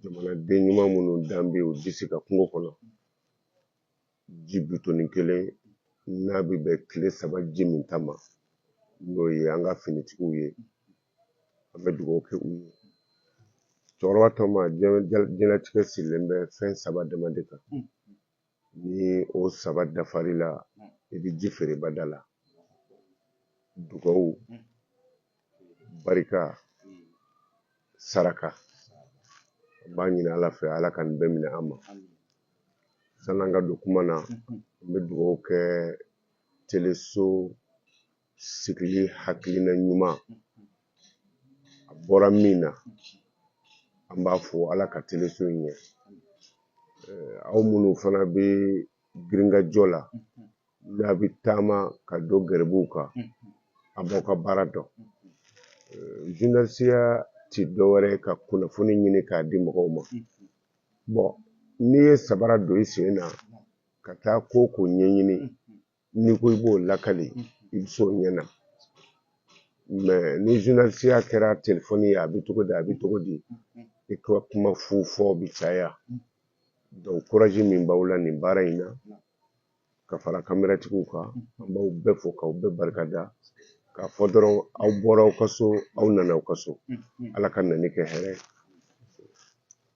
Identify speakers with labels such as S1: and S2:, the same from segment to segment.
S1: jamanaden ɲuman minnu dalen b'u disi kan kungo kɔnɔ ji bidɔnnin kelen n'a bɛ bɛn tile saba ji minta ma n'o ye an ka finitigiw ye an bɛ dugawu kɛ u ye cɛkɔrɔba tɔ ma diɲɛlatigɛ sigilen bɛ fɛn saba dama de kan ni o saba dafar'i la i bɛ ji feere bada la dugawu barika saraka an b'a ɲini ala fɛ ala ka nin bɛɛ minɛ an ma san'an ka don kuma na n bɛ dugawu kɛ teleso sigili hakilina ɲuman a bɔra min na an b'a fo ala ka teleso in ɲɛ aw minnu fana bɛ girinkajɔ la n'a bɛ taama ka don gɛrɛbuw kan a b'aw ka baara dɔn zurunalisiya ti dɔwɛrɛ ka kunnafoni ɲini k'a di mɔgɔw ma bɔn n'i ye sabara don i sen na ka taa ko ko ɲɛɲini n'i ko i b'o lakali i bɛ s'o ɲɛ na mɛ ni zurunalisiya kɛra telefɔni ye a bɛ cogo di a bɛ cogo di i ka kuma fu fɔ bɛ caya dɔnku kuraji min b'aw la nin baara in na ka fara kameratigiw kan an b'aw bɛɛ fo k'aw bɛɛ barika da k'a fɔ dɔrɔn aw bɔra aw ka so aw nana aw ka so ala ka nani kɛ hɛrɛ ye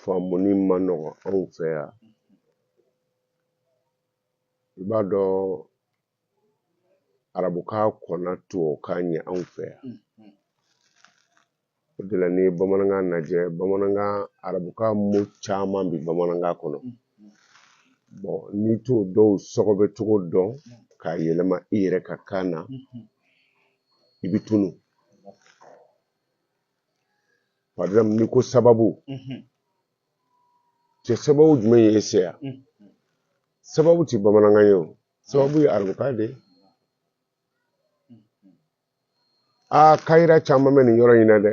S1: faamuni man nɔgɔn anw fɛ yan i b'a dɔn arabukan kɔnna tubabukan ɲɛ anw fɛ yan o de la n'i ye bamanankan lajɛ bamanankan arabukan mo caman bi bamanankan kɔnɔ bɔn n'i t'o dɔw sɔgɔbɛ cogo dɔn k'a yɛlɛma i yɛrɛ ka kan na i bi tunu par exemple n'i ko sababu cɛ sababu jumɛn ye e se yan sababu ti bamanankan ye o sababu ye arabukan de ye aa kayira caman bɛ nin yɔrɔ in na dɛ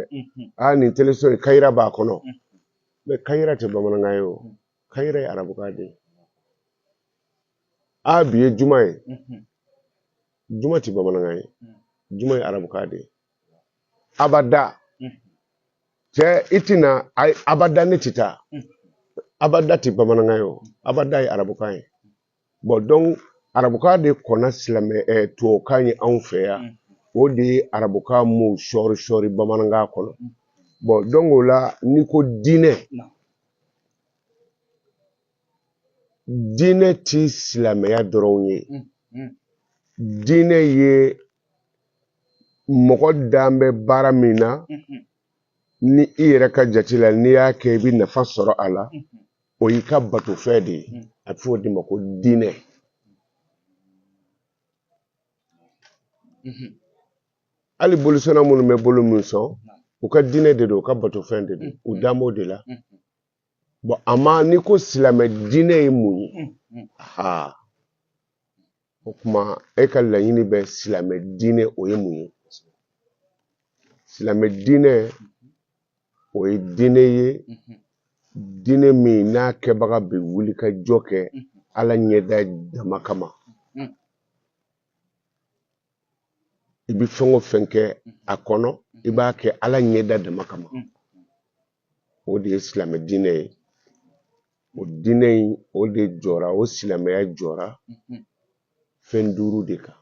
S1: aa nin teleso in kayira b'a kɔnɔ mɛ kayira tɛ bamanankan ye o kayira ye arabukan de ye aa bi ye juma ye juma tɛ bamanankan ye juma ye arabukan de ye abada cɛ i tɛ na abada ne tɛ taa abada tɛ bamanankan ye o abada ye arabukan ye bɔn dɔnku arabukan de kɔnna silamɛ ɛ tubabukan ye anw fɛ yan o de ye arabukan mo sɔɔri sɔɔri bamanankan kɔnɔ bɔn dɔnku o la n'i ko diinɛ diinɛ ti silamɛya dɔrɔn ye diinɛ ye mɔgɔ dan bɛ baara min na ni i yɛrɛ ka jate la n'i y'a kɛ i bɛ nafa sɔrɔ a la o y'i ka batofɛn de ye a bɛ fɔ o de ma ko diinɛ hali bolisɔnna minnu bɛ boli min sɔn u ka diinɛ de don u ka batofɛn de don u dan b'o de la bɔn ama n'i ko silamɛ diinɛ ye mun ye aa o kuma e ka laɲini bɛ silamɛ diinɛ o ye mun ye silamɛ diinɛ o ye diinɛ ye diinɛ min n'a kɛbaga bɛ wulikajɔ kɛ ala ɲɛda dama kama i bɛ fɛn o fɛn kɛ a kɔnɔ i b'a kɛ ala ɲɛda dama kama o de ye silamɛ diinɛ ye o diinɛ in o de jɔra o silamɛya jɔra fɛn duuru de kan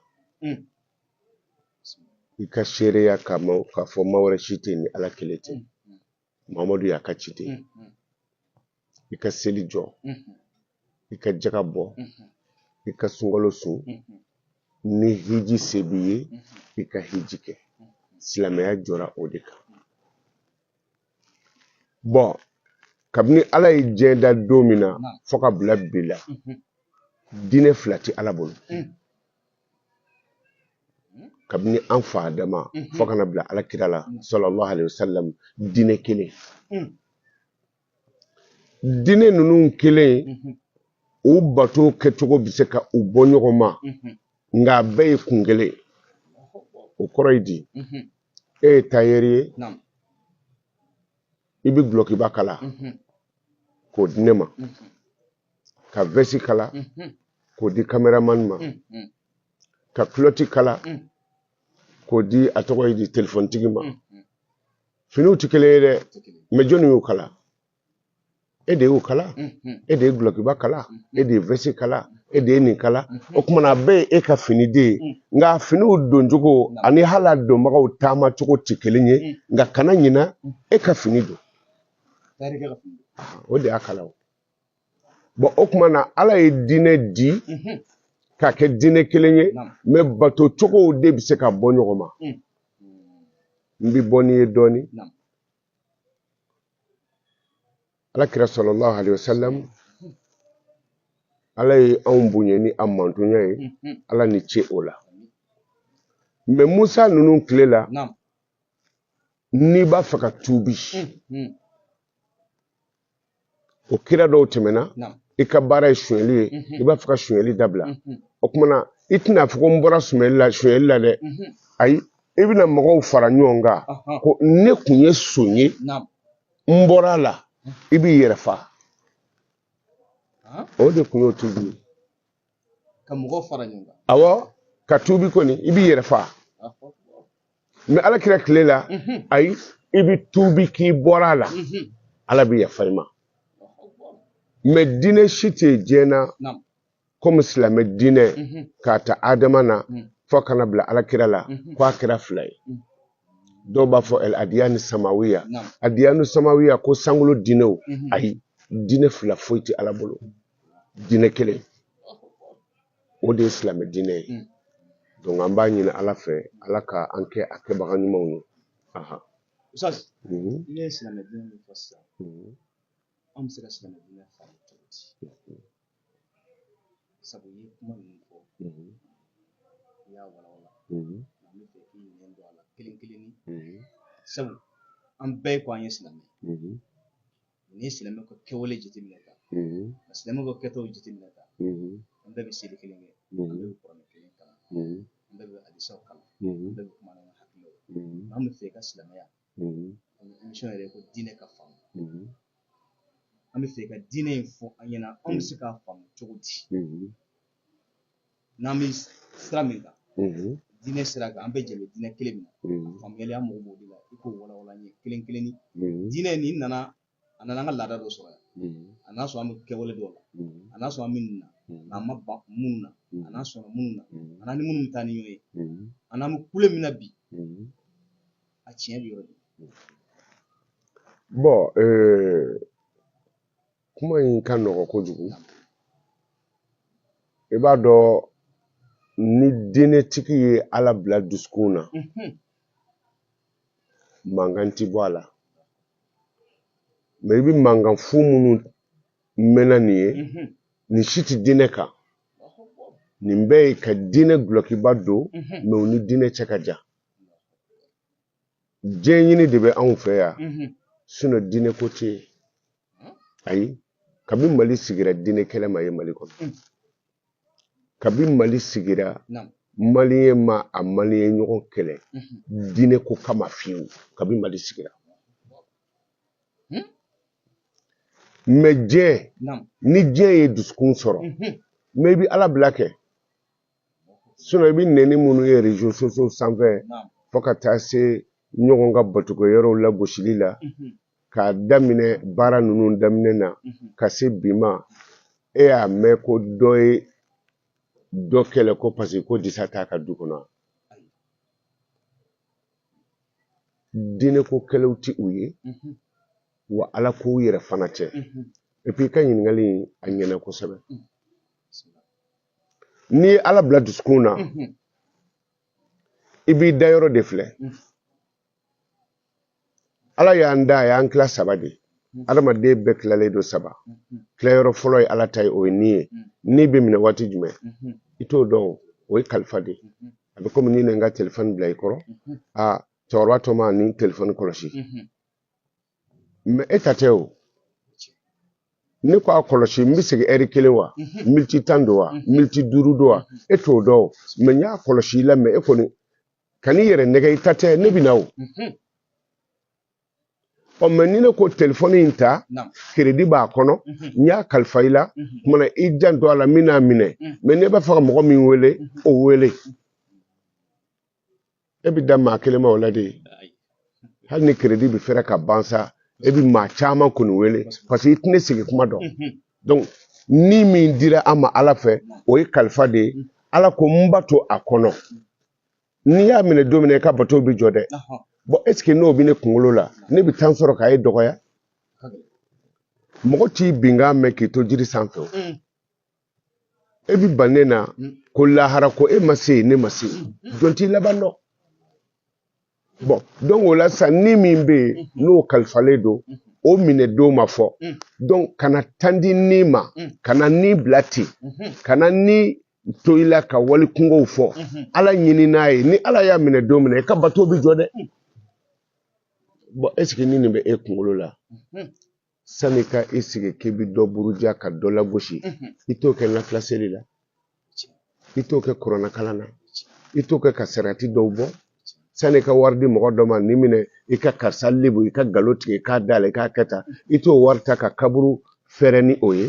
S1: i ka seereya k'a fɔ ma wɛrɛ si tɛ ni ala kelen tɛ mamadu y'a ka ciden ye mm-hmm. i ka seli jɔ mm-hmm. i ka jaga bɔ mm-hmm. i ka sunkalo sun ni hiji se b'i ye i ka hiji kɛ silamɛya jɔra o de kan bɔn kabini ala ye diɲɛ da don min na fɔ ka bila bi la diinɛ fila tɛ ala bolo kabini an fa adama fɔ ka na bila ala kira la sallallahu alaihi wasallam diinɛ kelen diinɛ ninnu kelen u bato kɛcogo bɛ se ka u bɔ ɲɔgɔn ma nka a bɛɛ ye kun kelen ye. o kɔrɔ ye di e ye tayɛri ye Naam. i bɛ gulɔkiba kala k'o di ne ma ka vɛsi kala k'o di kameramani ma ka kulɔti kala k'o di a tɔgɔ ye di telefonitigi ma finiw tɛ kelen ye dɛ mɛ jɔnni y'u kala e de y'u kala e de ye gulɔkiba kala e de ye vɛsi kala e de ye nin kala o kuma na a bɛɛ ye e ka fini de ye nka finiw doncogo ani hali a donbagaw taama cogo tɛ kelen ye nka kana ɲina e ka fini don o de y'a kala o bɔn o kuma na ala ye diinɛ di mhm. k'a kɛ diinɛ kelen ye mɛ bato cogow de bɛ se ka bɔ ɲɔgɔn ma mm. n bɛ bɔ n'i ye dɔɔni ala kira sallallahu alayhi wa sallam ala ye anw bonya ni a mantonya ye mhm. ala ni ce o la mɛ musa ninnu tile la n'i b'a fɛ ka tuubi mhm. o kira dɔw tɛmɛna i ka baara ye sonyɛli ye i b'a fɛ ka sonyɛli dabila o kumana i tɛna fɔ ko n bɔra sonyɛli la dɛ ayi i bɛna mɔgɔw fara ɲɔgɔn kan ko ne kun ye son ye n bɔra a la i b'i yɛrɛ fa o de kun y'o tubi
S2: ka mɔgɔw fara ɲɔgɔn kan awɔ ka
S1: tubi kɔni i b'i yɛrɛ fa mais ala kira tile la mhm. ayi i bɛ tubi k'i bɔra a la mhm. ala bɛ yafa i ma mais diinɛ si tɛ diɲɛ na komi silamɛ diinɛ mhm. k'a ta adama na fo ka na bila ala kira la ko a kira fila ye dɔw b'a fɔ adiyani samawiya adiyanu samawiya ko sankolo diinɛw ayi diinɛ fila foyi tɛ ala bolo. diinɛ kelen o de ye silamɛ diinɛ ye mm. donc an b'a ɲini ala fɛ ala ka an kɛ a kɛbaga ɲumanw ye aha
S2: ustaz mm -hmm. i ye silamɛ diinɛ min fɔ sisan mm -hmm. an bɛ se ka silamɛ diinɛ faamu cogo di mhm. sabu i ye kuma ninnu fɔ i mhm. y'a walawala mhm. an bɛ fɛ k'i ɲɛ don a la kelen kelenni sabu an bɛɛ ko an ye silamɛ n'i ye silamɛ ka kɛwale jateminɛ ta ka silamɛ ka kɛtaw jateminɛ ta an bɛɛ bɛ seli kelen kɛ an bɛɛ bɛ kuranɛ kelen kalan an bɛɛ bɛ hadisaw kalan an bɛɛ bɛ kuma n'an ka hakililaw an bɛ fɛ ka silamɛya émission yɛrɛ ko diinɛ ka faamu an bɛ fɛ ka diinɛ in fɔ an ɲɛna an bɛ se k'a faamu cogo di n'an bɛ sira min kan diinɛ sira kan an bɛ jɛ diinɛ kelen min na faamuyali an mago b'o de la i k'o walawala n ye kelen kelenni diinɛ nin nana a nana an ka laada dɔ sɔrɔ yan a n'a sɔrɔ an bɛ kɛwale dɔw la a n'a sɔrɔ an bɛ nin na n'an ma ban minnu na a n'a sɔnna minnu na a n'a ni minnu bɛ taa ni ɲɔgɔn ye a n'an bɛ kule min na bi a tiɲɛ bɛ yɔrɔ de
S1: bɔn kuma in ka nɔgɔn kojugu i b'a dɔn ni diinɛtigi ye ala bila dusukun na mhm. mankan ti bɔ a la mais i bɛ mankan fu minnu mɛnna nin ye mhm. nin si tɛ diinɛ kan nin bɛɛ ye ka diinɛ gulɔkiba don mais mhm. u ni diinɛ cɛ ka jan diɲɛ ɲini de bɛ anw fɛ yan sinon diinɛ ko tɛ yen ayi kabi mali sigira diinɛ kɛlɛ ma ye mali kɔnɔ kabi mali sigira maliyɛn ma a maliyɛn ɲɔgɔn kɛlɛ diinɛ ko kama fiyewu kabi mali sigira mais diɲɛ ni diɲɛ ye dusukun sɔrɔ mais i bɛ ala bila kɛ i bɛ nɛni minnu ye réseaux sociaux sanfɛ fo ka taa se ɲɔgɔn ka batuko yɔrɔw lagosili la k'a daminɛ baara ninnu daminɛ na ka se bi ma e y'a mɛn ko dɔ ye dɔ kɛlɛ ko parce que ko disa t'a ka du kɔnɔ diinɛ ko kɛlɛw tɛ u ye wa alako yɛrɛ fana tɛ et puis i ka ɲininkali a ɲɛna kosɛbɛ n'i ye ala bila dusukun na i b'i da yɔrɔ de filɛ ala y'an da a y'an tila saba de adamaden bɛɛ tilalen don saba tilayɔrɔ fɔlɔ ye ala ta ye o ye ni ye ni bɛ minɛ waati jumɛn i t'o dɔn o ye kalifa de a bɛ komi ni ne n ka telefɔni bila i kɔrɔ a cɛkɔrɔba tɔma ni telefɔni kɔlɔsi mɛ e ta tɛ o ne ko a kɔlɔsi n bɛ segin ɛri kelen wa mhm. militi tan don wa mhm. militi duuru don wa mhm. e t'o dɔn mɛ n y'a kɔlɔsi i la mɛ e kɔni kan'i yɛrɛ nɛgɛ i ta tɛ ne bɛ na o ɔ mɛ ni ne ko telefɔni in ta keredi b'a kɔnɔ n y'a kalifa i la kumana i janto a la min n'a minɛ mɛ n'e b'a fɛ ka mɔgɔ min wele o wele e bɛ dan maa kelen ma o la de hali ni keredi bɛ fɛrɛ ka ban sa e bɛ maa caman kɔni wele parce que i tɛ ne segin kuma dɔn donc ni min dira an ma ala fɛ o ye kalifa de ye ala ko n bato a kɔnɔ ni n y'a minɛ don min na i ka bato bɛ jɔ dɛ bon est-ce que n'o bɛ ne kunkolo la ne bɛ temps sɔrɔ ka e dɔgɔya mɔgɔ t'i binkan mɛn k'i to jiri sanfɛ o e b'i ban ne na mm. ko lahara ko e ma se yen ne ma se yen jɔn t'i laban dɔn bon donc o la sisan ni min bɛ yen mm-hmm. n'o kalifalen don mm-hmm. o minɛ don ma fɔ mm. donc kana tan di ni ma mm. kana ni bila ten mm-hmm. kana ni to i la ka wali kunkow fɔ ala ɲini n'a ye ni ala y'a minɛ don min na i ka bato bɛ jɔ dɛ bon est-ce que ni nin bɛ e kunkolo la sani ka i sigi k'i bɛ dɔ buruja ka dɔ lagosi i t'o kɛ nafila seli la i t'o kɛ kuranɛ kalan na i t'o kɛ ka sarati dɔw bɔ sani ka wari di mɔgɔ dɔ ma nin minɛ i ka karisa lebu i ka galo tigɛ k'a d'a la i k'a kɛ tan i t'o wari ta ka kaburu fɛrɛ ni o ye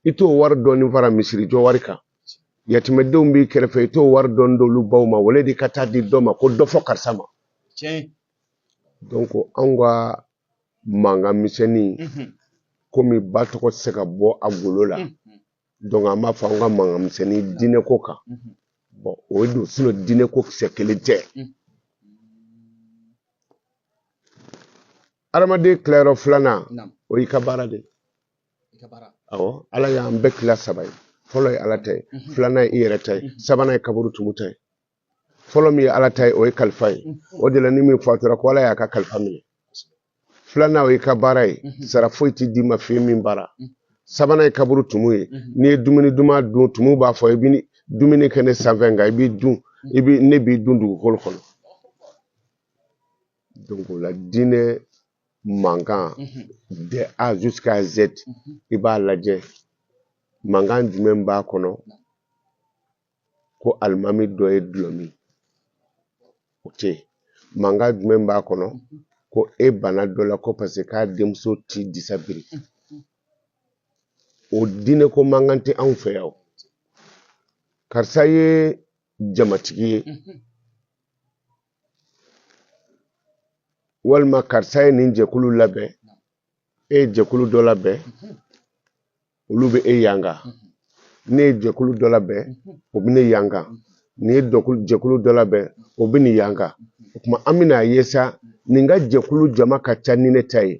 S1: i t'o wari dɔɔni fara misiri jɔ wari kan yatimɛdenw b'i kɛrɛfɛ i t'o wari dɔɔni d'olu baw ma wale de ka taa di dɔ ma ko dɔ fɔ karisa ma donc anw ka mankan misɛnnin komi ba tɔgɔ tɛ se ka bɔ a golo la donc an b'a fɔ an ka mankan misɛnnin diinɛ ko kan bon o ye don sinɔn diinɛ ko kisɛ kelen tɛ adamaden tilayɔrɔ filanan o y'i ka baara de awɔ ala y'an bɛɛ tila saba ye fɔlɔ ye ala ta ye filanan ye i yɛrɛ ta ye sabanan ye kaburu tumu ta ye fɔlɔ min ye ala ta ye o ye kalifa ye o de la ni min fatura ko ala y'a ka kalifa minɛ filanan o y'i ka baara ye sara foyi tɛ d'i ma fo i ye min baara sabanan ye kaburu tumu ye n'i ye dumuni duman dun tumu b'a fɔ i bɛ dumuni kɛ ne sanfɛ nka i b'i dun i bɛ ne b'i dun dugukolo kɔnɔ donc o la diinɛ mankan de a jusqu'à z i b'a lajɛ mankan jumɛn b'a kɔnɔ ko alimami dɔ ye dulɔ min o tɛ yen mankan jumɛn b'a kɔnɔ ko e bana dɔ la ko paseke k'a denmuso ti disa biri o diinɛ ko mankan tɛ anw fɛ yan karisa ye jamatigi ye walima karisa ye nin jɛkulu labɛn e ye jɛkulu dɔ labɛn olu bɛ e yanga ne ye jɛkulu dɔ labɛn o bɛ ne yanga nin ye jɛkulu dɔ labɛn o bɛ nin yanga o tuma an bɛna a ye sa nin ka jɛkulu jama ka ca ni ne ta ye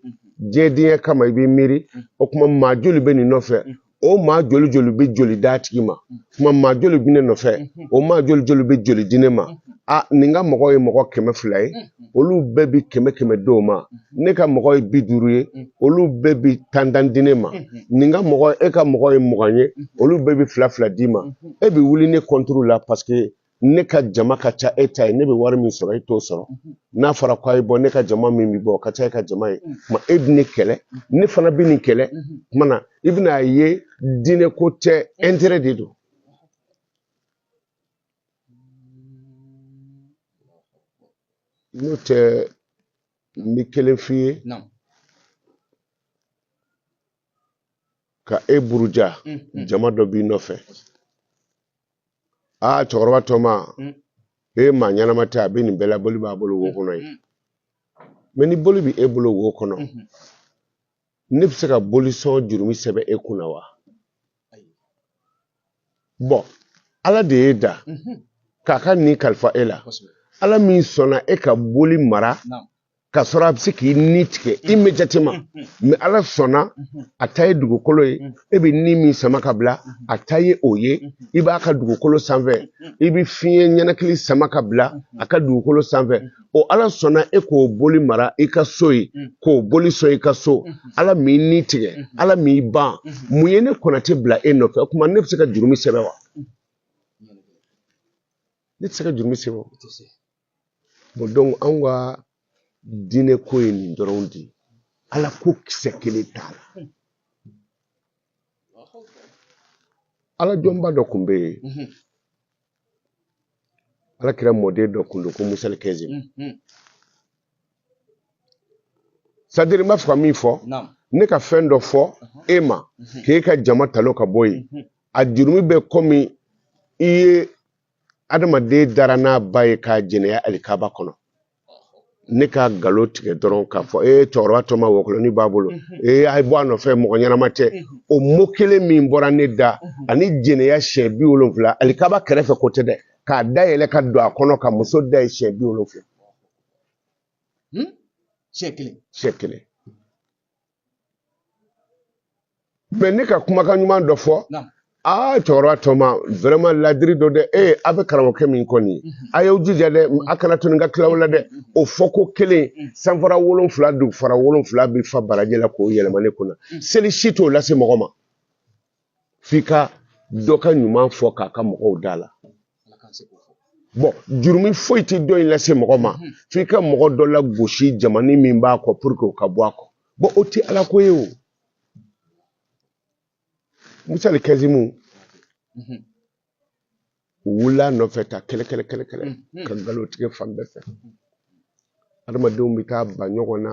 S1: diɲɛdenya kama i bɛ miiri o tuma maa joli bɛ nin nɔfɛ o maa joli joli bɛ joli d'a tigi ma kuma maa joli bɛ ne nɔfɛ o maa joli joli bɛ joli di ne ma a nin ka mɔgɔ ye mɔgɔ kɛmɛ fila ye olu bɛɛ bi kɛmɛ kɛmɛ di o ma ne ka mɔgɔ ye bi duuru ye olu bɛɛ bi tan tan di ne ma nin ka mɔgɔ e ka mɔgɔ ye mugan ye olu bɛɛ bi fila fila d'i ma e bi wuli ne kɔnturu la paseke ne ka jama ka ca e ta ye ne bɛ wari min sɔrɔ e t'o sɔrɔ mhm. n'a fɔra ko a ye bɔ ne ka jama min bɛ bɔ o ka ca e ka jama ye kuma mhm. e bɛ ne kɛlɛ mhm. ne fana bɛ nin kɛlɛ kuma na i bɛna a ye diinɛ ko tɛ ɛntɛrɛ de don n'o tɛ n bɛ kelen f'i ye ka e buruja jama dɔ b'i nɔfɛ aa cɛkɔrɔba tɔma e maa ɲɛnama tɛ a bɛ nin bɛɛ la boli b'a bolo wo kɔnɔ yen mɛ ni boli bɛ e bolo wo kɔnɔ ne bɛ se ka bolisɔn jurumi sɛbɛn e kunna wa bɔn ala de y'e da k'a ka ni kalifa e la ala min sɔnna e ka boli mara ka sɔrɔ a bɛ se k'i ni tigɛ immédiatement mɛ ala sɔnna a ta ye dugukolo ye e bɛ ni min sama ka bila a ta ye o ye i b'a ka dugukolo sanfɛ i bɛ fiɲɛ ninakili sama ka bila a ka dugukolo sanfɛ o ala sɔnna e k'o boli mara i ka so ye k'o boli sɔn i ka so ala m'i ni tigɛ ala m'i ban mun ye ne konate bila e nɔfɛ o tuma ne bɛ se ka jurumi sɛbɛn wa ne tɛ se ka jurumi sɛbɛn bɔn donc anw ka diinɛ ko ye nin dɔrɔn de ye ala ko kisɛ kelen t'a la ala jɔnba dɔ kun bɛ yen mhm. ala kira mɔden dɔ kun don ko musali kɛzimu mhm. c'est-à-dire n b'a fɛ ka min fɔ ne ka fɛn dɔ fɔ mhm. e ma k'e ka jama talon ka bɔ yen a jurumi bɛ kɔmi i ye adamaden dara n'a ba ye k'a jɛnɛya alikaba kɔnɔ ne ka nkalon tigɛ dɔrɔn k'a fɔ ee cɛkɔrɔba tɔma wɔkulɔni b'a bolo ee a ye bɔ a nɔfɛ mɔgɔ ɲɛnama tɛ o mot kelen min bɔra ne da ani jɛnɛya siɲɛ bi wolonfila alikaba kɛrɛfɛ ko tɛ dɛ k'a dayɛlɛ ka don a kɔnɔ ka muso da ye siɲɛ bi wolonfila siɲɛ kelen siɲɛ kelen mɛ ne ka kumakan ɲuman dɔ fɔ aa ah, cɛkɔrɔba tɔma vraiment ladiri don dɛ ee eh, a bɛ karamɔgɔkɛ min kɔ nin mhm. a y'aw jija dɛ a kana to nin ka tila aw la dɛ mhm. o fɔ ko kelen mhm. sanfara wolonfila dugufara wolonfila bɛ fa baraji la k'o yɛlɛma ne kunna seli si t'o lase mɔgɔ ma f'i ka dɔ ka ɲuman fɔ k'a ka mɔgɔw d'a la bɔn jurumi foyi tɛ dɔ in lase mɔgɔ ma hmm. f'i ka mɔgɔ dɔ lagosi jamani min b'a kɔ pour que o ka bɔ a kɔ bɔn o tɛ ala ko ye o musali kɛzimu hmm. wula nɔfɛ ta kɛlɛ kɛlɛ kɛlɛ kɛlɛ mm-hmm. ka nkalon tigɛ fan bɛɛ fɛ adamadenw bɛ taa ba ɲɔgɔn na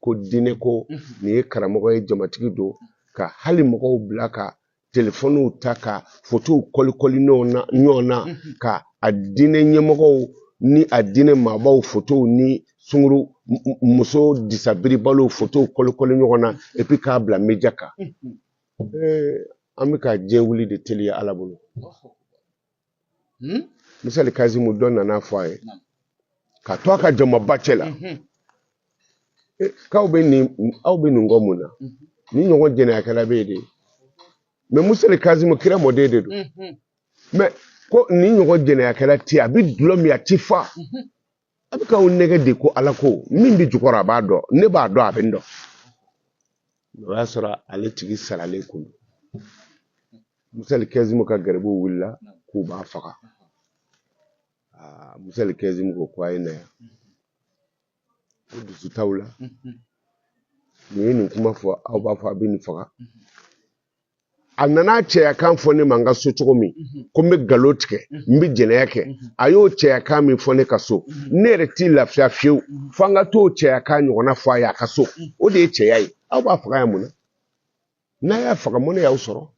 S1: ko diinɛ ko mm-hmm. nin ye karamɔgɔ ye jamatigi don ka hali mɔgɔw bila ka telefɔniw ta ka fotow kɔlikɔli ɲɔgɔn na mm-hmm. ka a diinɛ ɲɛmɔgɔw ni a diinɛ maabaw fotow ni sunguru muso disabiribaliw fotow kɔlikɔli ɲɔgɔn na epi k'a bila média kan an bɛ ka diɲɛ wuli de teliya ala bolo hmm? musali kazimu dɔ nana fɔ a ye ka to a ka jamaba cɛ la mhm. k'aw bɛ nin aw bɛ nin kɔ mun na mhm. nin ɲɔgɔn jɛnɛyakɛla bɛ yen de mɛ musali kazimu kira mɔden de don mhm. mɛ ko nin ɲɔgɔn jɛnɛyakɛla tɛ a bɛ dulɔ min a ti fa a bɛ k'aw nɛgɛ de ko ala ko min bɛ jukɔrɔ a b'a dɔn ne b'a dɔn a bɛ n dɔn o y'a sɔrɔ ale tigi saralen kun don. musali kɛzimu ka garibuw wulila k'u b'a faga Aa, musali kɛzimu ko ko a ye na yan ko dusu t'aw la nin ye nin kuma fɔ aw b'a fɔ a bɛ nin faga a nana cɛyakan fɔ ne ma n ka so cogo min mhm. ko n bɛ galo tigɛ mhm. n bɛ jɛnɛya kɛ mhm. a y'o cɛyakan min fɔ ne ka so ne yɛrɛ tɛ lafiya fiyewu fo an ka t'o cɛyakan ɲɔgɔnna fɔ a ye a ka so o de ye cɛya ye aw b'a faga yan mun na n'a y'a faga mun ne y'aw sɔrɔ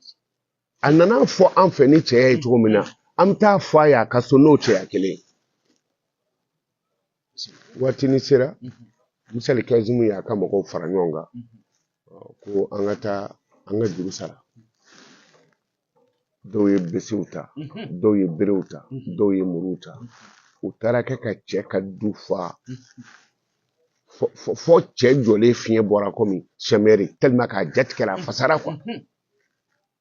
S1: a nana fɔ an fɛ ni cɛya ye cogo min na an bɛ taa fɔ a ye a ka so n'o cɛya kelen ye waatini sera musali kɛzimu y'a ka mɔgɔw fara ɲɔgɔn kan ko an ka taa an ka juru sara dɔw ye besew ta dɔw ye berew ta dɔw ye muruw ta u taara kɛ ka cɛ ka du fa fo cɛ jɔlen fiɲɛ bɔra komi sɛmɛri tellement k'a jatigɛra a fasara quoi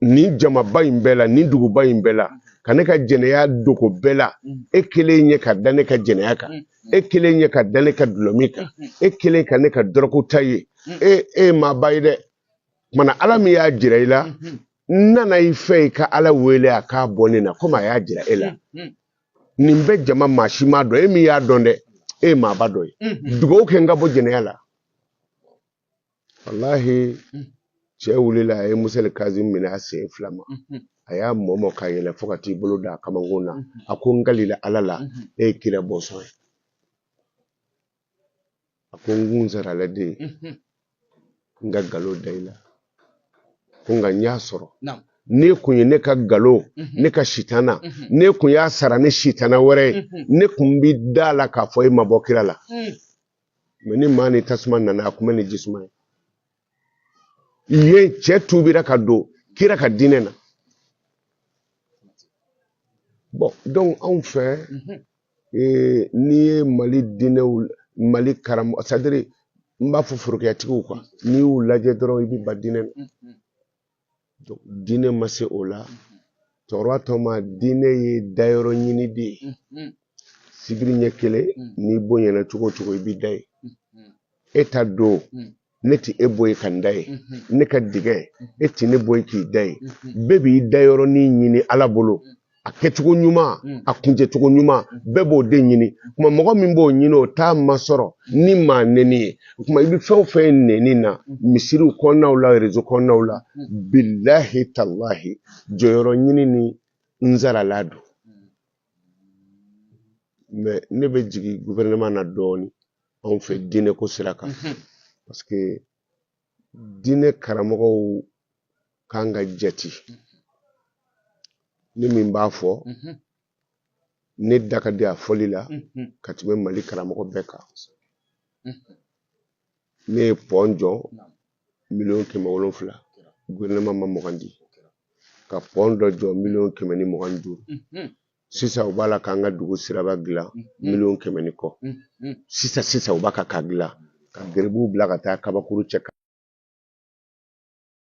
S1: nin jamaba in bɛɛ la nin duguba in bɛɛ la ka ne ka jɛnɛya dogo bɛɛ la e kelen ɲɛ ka da ne ka jɛnɛya kan e kelen ɲɛ ka da ne ka dulɔmin kan e kelen ka ne ka dɔrɔgu ta ye e e ye maaba ye dɛ kumana ala min y'a jira i la n nana i fɛ i ka ala wele a k'a bɔ ne na komi a y'a jira e la nin bɛ jama maa si m'a dɔn e min y'a dɔn dɛ e ye maaba dɔ ye dugawu kɛ n ka bɔ jɛnɛya la walahi mm. cɛ wulila a ye musali kazimu minɛ a sen fila ma mm-hmm. a y'a mɔmɔ ka yɛlɛ fo ka t'i bolo da a kamankun na mm-hmm. a ko n kalila ala la mm-hmm. e ye kira bɔnsɔn ye a ko n kun sarala de n ka galo da i la ko nka n y'a sɔrɔ ne kun ye ne ka galo ne ka sitana ne kun y'a sara ne sitana wɛrɛ ye ne kun bi da la k'a fɔ e ma bɔ kira la mm. mais ni maa ni tasuma nana a kunbɛn ni jisuma ye yen cɛ tubira ka don kira ka diinɛ na bon donc anw fɛ mhm. eh, n'i ye mali diinɛw mali karamɔgɔ c'est-à-dire n b'a fɔ forokiyatigiw kan n'i y'u lajɛ dɔrɔn i bɛ ban diinɛ na mhm. diinɛ ma se o la cɛkɔrɔba tɔɔma diinɛ ye dayɔrɔ ɲini de ye sibiri ɲɛ kelen n'i bonyana cogo o cogo i b'i da yen e ta don ne tɛ e bɔ yen ka n da yen ne ka dingɛ e tɛ ne bɔ yen k'i da yen bɛɛ b'i dayɔrɔnin ɲini ala bolo a kɛcogo ɲuman mm. a kuncɛcogo ɲuman mm. bɛɛ b'o de ɲini mm. o tuma mɔgɔ min b'o ɲini o t'a masɔrɔ ni maa nɛni ye o tuma i bɛ fɛn o fɛn ye nɛni na misiriw kɔnɔnaw la réseau kɔnɔnaw la bilahi talahi jɔyɔrɔ ɲini ni n zarala don mais ne bɛ jigin gouvernement na dɔɔnin anw fɛ diinɛko sira kan mm-hmm. parce que diinɛ karamɔgɔw ka kan ka jate ne min b'a fɔ ne da ka di a fɔli la ka tɛmɛ mali karamɔgɔ bɛɛ kan ne ye pɔn jɔ miliyɔn kɛmɛ wolonfila gouvernement ma mugan di ka pɔn dɔ jɔ miliyɔn kɛmɛ ni mugan ni duuru sisan u b'a la k'an ka dugu siraba dilan mm, mm. miliyɔn kɛmɛ ni kɔ mm, sisan sisan u b'a kan k'a dilan ka garibuw bila ka taa kabakuru cɛ